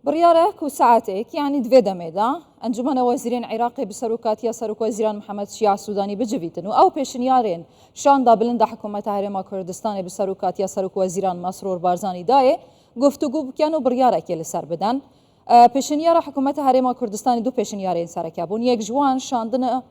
بڕیارە کو سەعاتەیەک یانی دوێ دەمێدا ئەنجومەنە وەزیرێن عێراقی بسەر و کاتیا سەرک وەزیران محەممەد شیع سوودانی بجویتن و ئەو پێشنیارێن شان دا بلند دە حکوومەتە هەرێما کوردستانی بسەر و کاتیا سەرک وەزیران مەسرور بارزانی دایێ گفتوگو بکەن و بڕیارەکێ لەسەر بدەن پێشنیارە حکوومەتە هەرێما کوردستانی دوو پێشنیارێن سەرەکە بوون یەک ژوان شاندنە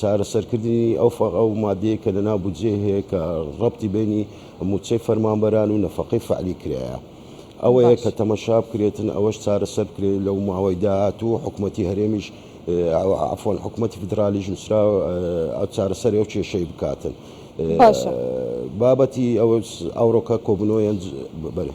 چارەسەرکردنی ئەو فەقە و ماددەیەی کە لەناو بودجەی هەیە کە ڕەبتی بەینی مووچەی فەرمانبەران و نەفەقەی فەعلی کرایە ئەوەیە کە باشە تەمەشا بکرێتن ئەوەش چارەسەر بکرێت لەو ماوەی داهاتوو حکومەتی هەرێمیش ئەوە عەفوەن حکومەتی فیدراڵیش نووسراوە ئەو چارەسەری ئەو کێشەی بکاتن باشە. بابەتی ئەوەس ئەوڕۆکە کۆبوونەوەیان ج بەرێ.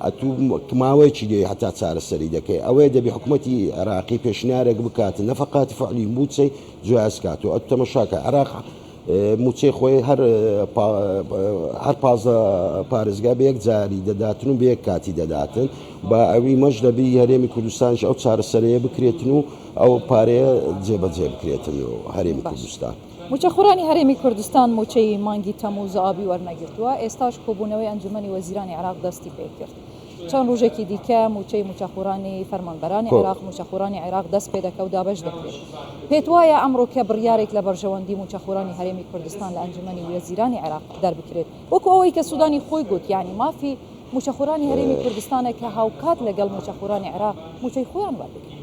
ئەتوو ماوەی چی دەوێ هەتا چارەسەری دەکەی ئەوەیە دەبی حکومەتی عێراقی پێشنیارێک بکات نەفەقاتی فەعلی مووچەی جیاز کات و ئەتوو تەمەشاکە عێراق مووچەی خۆی هەر هەر پازە پارێزگا بە یەک جاری دەداتن و بە یەک کاتی دەداتن با ئەوی مەش دەبی هەرێمی کوردستانش ئەو چارەسەرەیە بکرێتن و ئەو پارەیە جێبەجێ بکرێتن و هەرێمی کوردستان مووچەخۆرانی هەرێمی کوردستان مووچەی مانگی تەمووز و ئابی وەرنەگرتووە، ئێستاش کۆبوونەوەی ئەنجوومەنی وەزیرانی عێراق دەستی پێکرد، چەند ڕۆژێکی دیکە مووچەی مووچەخۆرانی فەرمانبەرانی عێراق، مووچەخۆرانی عێراق دەست پێدەکە و دابەش دەکرێت. پێتوایە ئەمڕۆ کە بڕیارێک لە بەرژەوەندی مووچەخۆرانی هەرێمی کوردستان لە ئەنجوومەنی وەزیرانی عێراق دەربکرێت وەکو ئەوەی کە سوودانی خۆی گوت یانی مافی مووچەخۆرانی هەرێمی کوردستانە کە هاوکات لەگەڵ مووچەخۆرانی عێراق مووچەی خۆیان وەربگرن.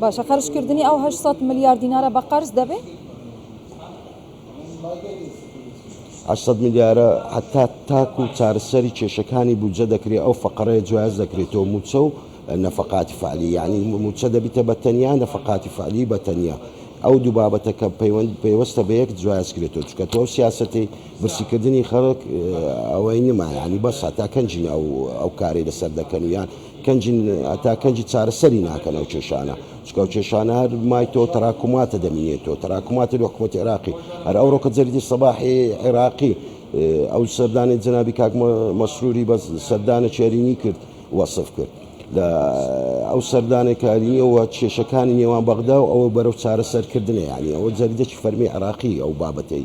باشە خەرجکردنی ئەو هەشت سەد ملیار دینارە بە قەرز دەبێ؟ هەشت سەد ملیارە هەتا تاک و چارەسەری کێشەکانی بودجە دەکرێت ئەو فەقەرەیە جیاز دەکرێتەوە مووچە و نەفەقاتی فعلی یعنی مووچە دەبیتە بە تەنیا نەفەقاتی فعلی بە تەنیا ئەو دوو بابەتە کە پەیوەند پێوەستە بە یەک جیاز کرێتەوە چکە تۆ سیاسەتی برسیکردنی خەڵک ئەوەی نمایانی بەس هەتا کەنجی ناو ئەو کارەی لەسەر دەکەن یان کەنجن هەتا کەنج چارەسەری ناکەن ئەو کێشانە چکە ئەو کێشانە هەر مای تۆ تراکماتە دەمینێت تۆ تراکماتە لە حکومەت عێراقی هەر ئەو ڕۆکە جەریدی سەباحی عێراقی ئەو سەردانی جەنابی کاک مەسروری بە سەردانە چێرینی کرد وەصف کرد لە ئەو سەردانەکاریەوە کێشەکانی نێوان بەغدا و ئەوە بەرەو چارەسەرکردنە یانی ئەوە جەریدەی فەرمی عراقی ئەو بابەتەی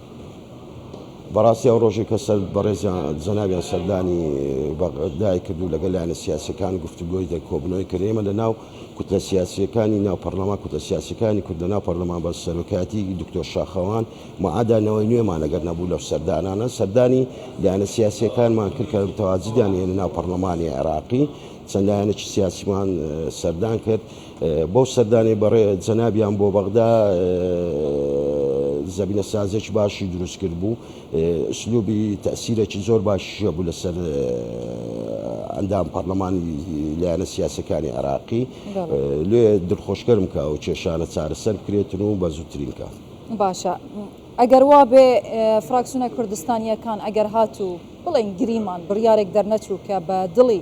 بەڕاستی ئەو ڕۆژەی کە سەر بەڕێزیان جەنابیان سەردانی بەغدای کردو لەگەڵ لایەنە سیاسەکان گفتوگۆی دە کۆبنەوەی کرد ئێمە لە ناو کوتلە سیاسیەکانی ناو پەرلەمان کوتلە سیاسەکانی کورد لە ناو پەرلەمان بە سەرۆکایەتی دکتۆر شاخەوان معادا نەوەی نوێمان ئەگەر نەبوو لەو سەردانانە سەردانی لایەنە سیاسیەکانمان کرد کە تەواجدیان هێنە ناو پەرلەمانی عێراقی چەند لایەنێکی سیاسیمان سەردان کرد بەو سەردانەی بەڕێ جەنابیان بۆ بەغدا زەمینە سازێکی باشی دروست کرد بوو ئسلوبی تەسیرێکی زۆر باشی هەبوو لەسەر ئەندام پەرلەمانی لایەنە سیاسەکانی عێراقی لێ دڵخۆشکەرم کە ئەو کێشانە چارەسەر بکرێتن و بە زووترین کات باشە ئەگەر وا بێ فراکسونە کوردستانیەکان ئەگەر هاتوو بڵێن گریمان بڕیارێک دەرنەچوو کە بە دڵی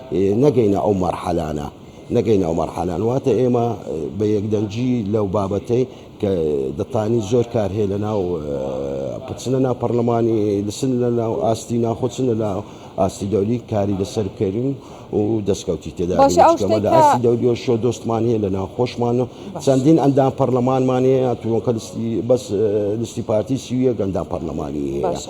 نەگەینە ئەو مەرحەلانە نەگەینە ئەو مەرحەلانە واتە ئێمە بە یەکدەنگی لەو بابەتەی کە دەتانی زۆر کار هەیە لە ناو پچنە ناو پەرلەمانی لسن لە ناو ئاستی ناخۆچن لە ناو ئاستی دەولی کاری لەسەر بکەین و دەستکەوتی تێدا باشە ئەو بینیشکەمە لە شتێکە ئاستی دەولی و شۆ دۆستمان هەیە لە ناو خۆشمان و باش چەندین ئەندام پەرلەمانمان هەیە تونکە لستی بەس لستی پارتی سی و یەک ئەندام پەرلەمانی هەیە باشە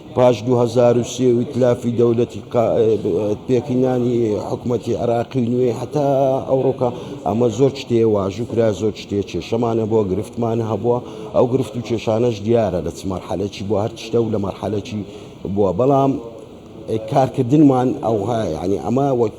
پاش دوو هەزار و سێ و ئیتلافی دەولەتی پێکهینانی حکومەتی عێراقی نوێ هەتا ئەوڕۆکە ئەمە زۆر شتێ واژو کرا زۆر شتێ کێشەمانە بۆ گرفتمان هەبووە ئەو گرفت و کێشانەش دیارە لە چ مەرحەلەکی بۆ هەر شتە و لە مەرحەلەکی بووە بەڵام کارکردنمان ئەوها یعنی ئەمە وەک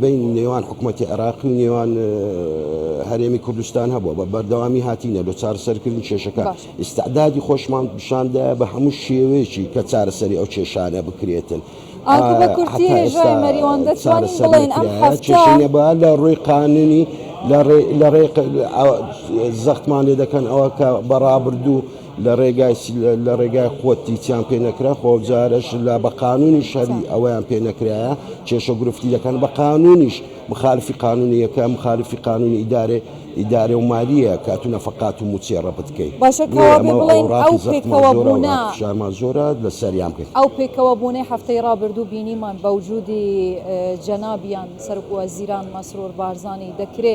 بەینی نێوان حکومەتی عێراقی و نێوان هەرێمی کوردستان هەبووە بە بەردەوامی هاتینە لۆ چارەسەرکردنی کێشەکە ئیستعدادی خۆشمان پیشاندایە بە هەموو شێوەیەکی کە چارەسەری ئەو کێشانە بکرێتن بە لە ڕووی قانونی لە ڕێ زەختمان لێ دەکەن ئەوە کە بەڕابردوو لەڕێگای خۆت هیچیان پێ نەکرا خۆ ئەوجارەش لا بە قانونیش هەبی ئەوەیان پێ نەکرایە کێشە و گرفتی دەکەن بە قانونیش مخالفی قانونی یەکە مخالفی قانونی ئیدارەی ئیدارەی و مالیە کە تو نەفەقات و موچێ ڕەپت کەی باشە کەوابێ بڵێین ئەو پێکەوەبونە ئەو پێکەوەبونەی هەفتەی ڕابردوو بینیمان بەوجودی جەنابیان سەرۆک وەزیران مەسرور بارزانی دەکرێ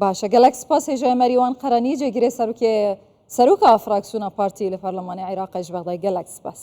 باشە گەلەک سپاس هێژای مەریوان قەرەنی جێگیرێ سەرکێ سەرۆکە فراکسیۆنە پارتی لە پەرلەمانی عێراق ئەژ بەغدای گەلەک سپاس.